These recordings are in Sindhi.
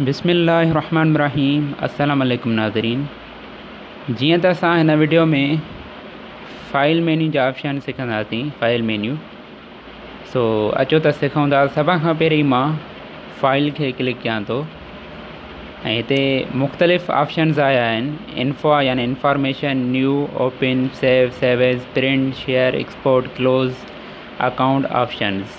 بسم الله الرحمن الرحيم السلام عليكم ناظرين جيئن ته اسان هن ويڊيو ۾ فائل مينيو جا آپشن سکنداسين فائل مينيو سو اچو ته سکون ٿا سڀ کان پهرين مان فائل کي ڪلڪ ڪيان ٿو ۽ هتي مختلف آپشنز آيا آهن انفا يعني information new open save save as print share export close account options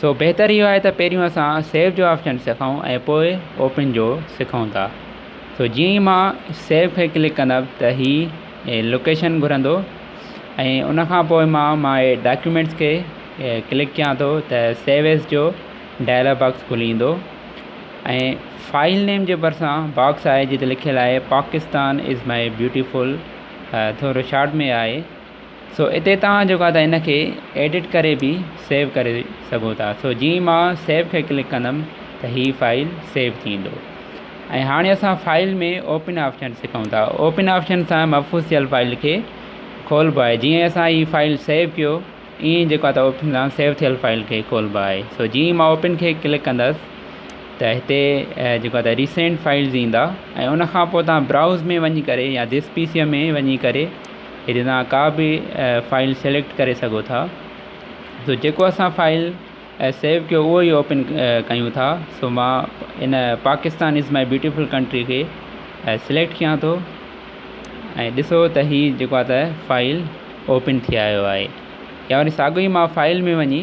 سو بهتر اهو آهي ته پهريون اسان سيو جو آپشن سکون ۽ پوء اوپن جو سکون ٿا سو جيئن ئي ما سيو کي ڪلڪ ڪندم ته هي هي لوڪيشن گهرندو ۽ ان کان پوء ما ما هي ڊاڪيومينٽس کي ڪلڪ ڪيان ٿو ته سيو ايز جو ڊائلاگ باڪس کلي ايندو ۽ فائل نيم جي ڀرسان باڪس آهي جتي لکيل آهي پاڪستان از ماء بيوٽيفل ٿورو شارٽ ۾ آهي سو اتي توهان جيڪو آهي هن کي ايڊٽ ڪري به سيو ڪري سگهو ٿا سو جي مان سيو کي ڪلڪ ڪندم ته هي فائل سيو ٿيندو ۽ هاڻي اسان فائل ۾ اوپن آپشن سکون ٿا اوپن آپشن سان محفوظ ٿيل فائل کي کولبو آهي جي اسان هي فائل سيو ڪيو ائين جيڪو آهي اوپن سان سيو ٿيل فائل کي کولبو آهي سو جي مان اوپن کي ڪلڪ ڪندس ته هتي جيڪو آهي ريسينٽ فائلز ايندا ۽ ان کان پوء تان براوز ۾ وڃي ڪري يا دس پي سي ۾ وڃي ڪري ھتي تھان ڪا به فائل سليڪٽ ڪري سگھو ٿا سو جيڪو اسان فائل سيو ڪيو اھو ئي اوپن ڪيون ٿا سو ما ان Pakistan is my beautiful country کي سليڪٽ ڪيان ٿو ۽ ڏسو ته ھي جيڪو آھي فائل اوپن ٿي آيو آھي يا وري ساڳو ئي مان فائل ۾ وڃي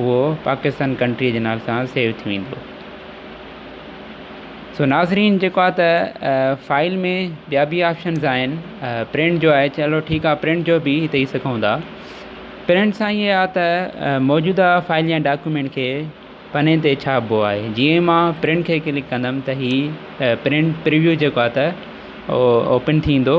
اهو پاڪستان ڪنٽريء جي نالي سان سيو ٿي ويندو. سو ناظرين جيڪو آهي ته فائل ۾ ٻيا به آپشنز آهن پرنٽ جو آهي چلو ٺيڪ آهي پرنٽ جو به ڏئي سگهون ٿا پرنٽ سان ائين آهي ته موجوده فائل يا ڊاڪيومينٽ کي پني تي ڇاپبو آهي جيئن ماء پرنٽ کي ڪلڪ ڪندم ته هي پرنٽ پريويو جيڪو آهي ته اوپن ٿيندو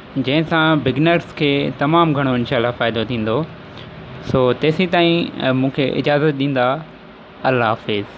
جنهن سان بگنرس کي تمام گهڻو انشاء الله فائدو ٿيندو سو تيسين تائين مون کي اجازت ڏيندا الله حافظ